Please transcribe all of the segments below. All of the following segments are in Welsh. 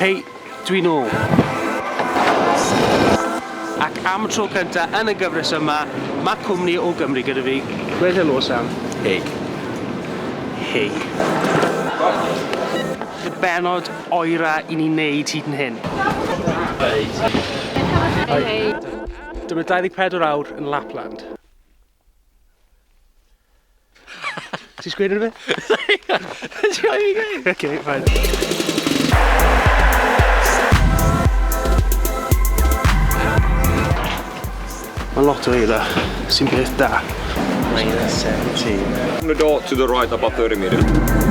Hei, dwi'n ôl. Ac am tro cyntaf yn y gyfres yma, mae cwmni o Gymru gyda fi. Gweud helo, Sam. Hei. Hei. Y benod oera i ni wneud hyd yn hyn. Hei. Hei. Dyma 24 awr yn Lapland. Ti'n sgwyd yn y Ti'n rhoi i gei? Ok, fine. Mae lot o eila sy'n beth da. Minus 17. From the door to the right about 30 meters.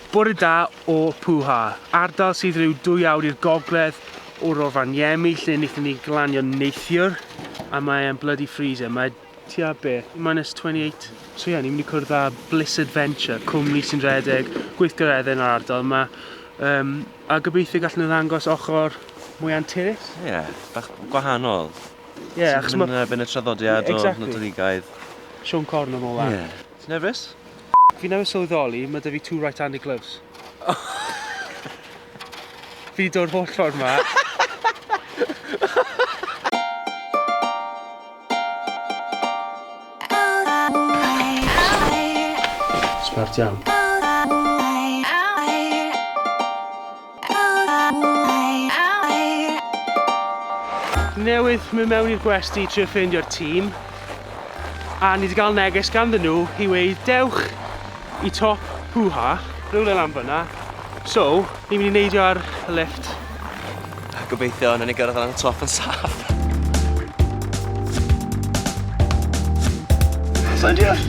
Bore da o Pwha, ardal sydd rhyw dwy awr i'r gogledd o Rovaniemi lle wnaethon ni glanio neithiwr a mae e'n bloody freezer, mae tua be? Minus 28? So ie, yeah, ni'n mynd i cwrdd â Bliss Adventure, cwmni sy'n rhedeg gweithgareddau yn yr ardal yma um, a gobeithio gallen nhw ddangos ochr mwy anturus. Ie, yeah, bach gwahanol. Ie, yeah, achos mae... Yn erbyn y traddodiad exactly. o Nadoligaidd. Sean Corn yn ola. Ie. Yeah. Ti'n nerfus? Fi newydd sylweddoli, mae 'da fi two right-handed gloves. Fi dod holl ffordd ma. Smart iawn. Newydd mynd mewn i'r gwesty i trio ffeindio'r tîm a ni wedi cael neges ganddyn nhw i weud dewch i top Pwha, rhywle lan fyna, so ni'n mynd i neidio ar y lifft. Gobeithio wnawn ni gyrraedd lan y top yn saff! Sai'n deall!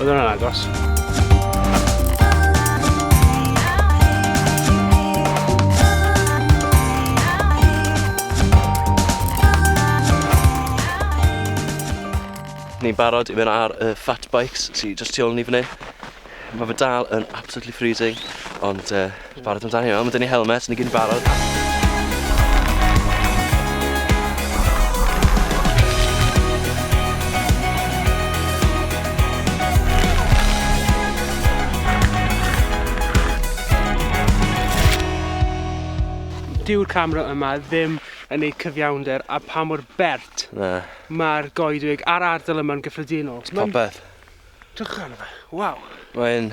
Oedd hwnna'n agos. Ni'n barod i fynd ar y fat bikes sy just tu ôl ni fan hyn. Mae fe dal yn absolutely freezing, ond uh, Ti'n barod amdano hynna? Mae 'da ni helmets, ni gyd yn barod. dyw'r camera yma ddim yn ei cyfiawnder a pa mor bert mae'r goedwig a'r ardal yma'n gyffredinol. Popeth. Dwch arno fe, waw. Mae'n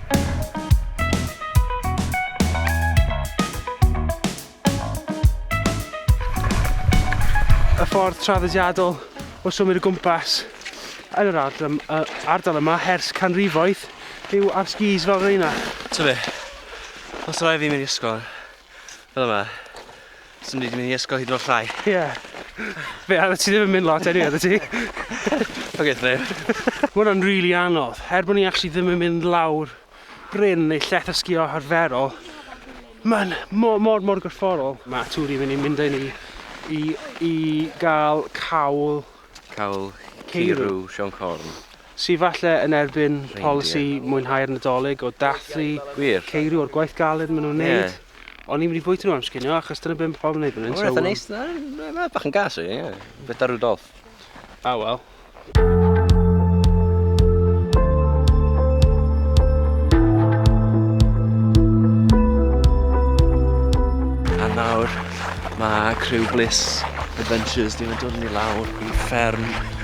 Y ffordd traddodiadol o symud o gwmpas yn yr ardal, ardal yma hers canrifoedd yw ar skis fel reina. Ti'n be? Os rhaid fi mynd i ysgol, Fel yma. Swn i wedi mynd i ysgol hyd yn o'r llai. Ie. Yeah. Fe, a ti ddim yn mynd lot anyway, ti? Oce, okay, neb. Mae hwnna'n rili really anodd. Er bod ni actually ddim yn mynd lawr bryn neu lleth o sgio harferol, mae'n mor, mor, mor gorfforol. Mae tŵr i'n mynd i mynd â ni i, i gael cawl... Cawl Ceirw Sion Corn. Sydd falle yn erbyn polisi mwynhau'r Nadolig o dathlu ceirw o'r gwaith galed maen nhw'n neud. O'n i'n mynd i bwyta nhw am sginio achos dyna be mae pobl yn neud fan hyn. Mae'n eitha neis. Mae'n bach yn gas i, ie. Beth da Rudolf? Ah, wel. nawr mae criw Bliss Adventures 'di mynd dod ni lawr i fferm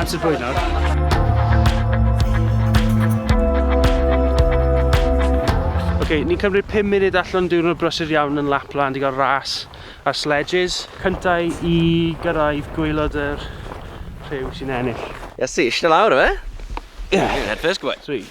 Amser bwyd nawr. Ok, ni'n cymryd 5 munud allan diwrnod brysur iawn yn Lapland i gael ras ar sledges. Cyntau i gyrraedd gweilod yr rhyw sy'n ennill. Yes, eisiau lawr o fe? Ie. Head first, go on. Sweet.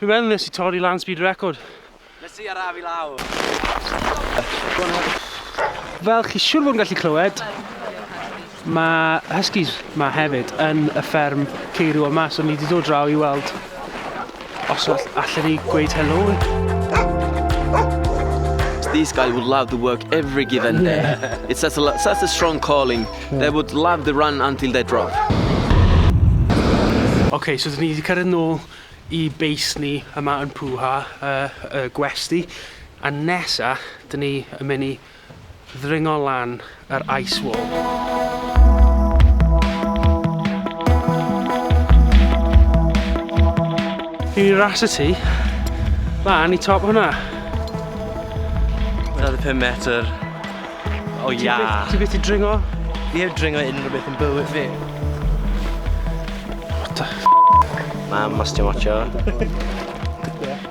Fi fel nes i torri lan speed record. Nes i araf i lawr. Fel chi siwr fod yn gallu clywed, mae Huskies ma hefyd yn y fferm ceirw yma, so ni wedi dod draw i weld Os all, allan ni gweud helo. These guys would love to work every given day. It's such a, such a strong calling. They would love to run until they drop. OK, so dyn ni wedi cyrraedd nôl i beis ni yma yn Pwha, uh, uh, gwesti. A nesa, dyn ni yn mynd i ddringo lan yr ice wall. Dwi wedi rasio ti lan i top hwnna. Mae 'na dy pum metr o iâ. Ti byth 'di dringo? Fi heb dringo unrhyw beth yn bywyd fi. What the f***? Mam os ti'n watsio.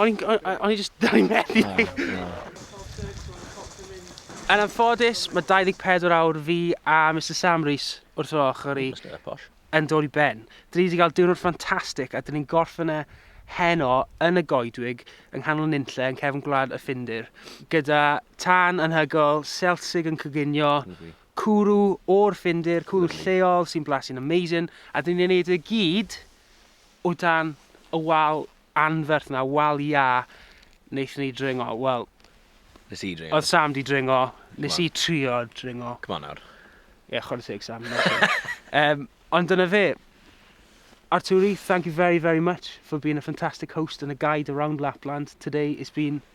O'n i just dal i methu. Yn anffodus, mae 24 awr fi a Mr Sam Rees wrth yr ochr i yn dod i ben. Dyn ni wedi cael diwrnod ffantastig a dyn ni'n gorffen e heno yn y goedwig yng nghanol nunlle yn cefn gwlad y Ffindir gyda tân anhygoel, selsig yn coginio, cwrw o'r Ffindir, cwrw lleol sy'n blasu'n amazing a dyn ni'n ei wneud e gyd o dan y wal anferth na wal iâ naethon ni dringo, wel... Nes i dringo. Oedd Sam 'di dringo, nes i trio dringo. Come on nawr. Ie, chwarae teg Sam. um, ond dyna fe. Arturi, thank you very, very much for being a fantastic host and a guide around Lapland. Today it's been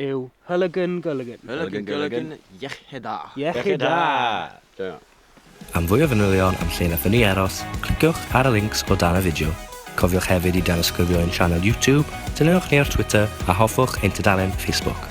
yw Hylygyn Gylygyn. Hylygyn Gylygyn, iechyd da! Iechyd da! Joio. Am fwy o fanylion am lle nathon ni aros, cliciwch ar y links o dan y fideo. Cofiwch hefyd i danysgrifio ein sianel YouTube, dilynwch ni ar Twitter a hoffwch ein tudalen Facebook.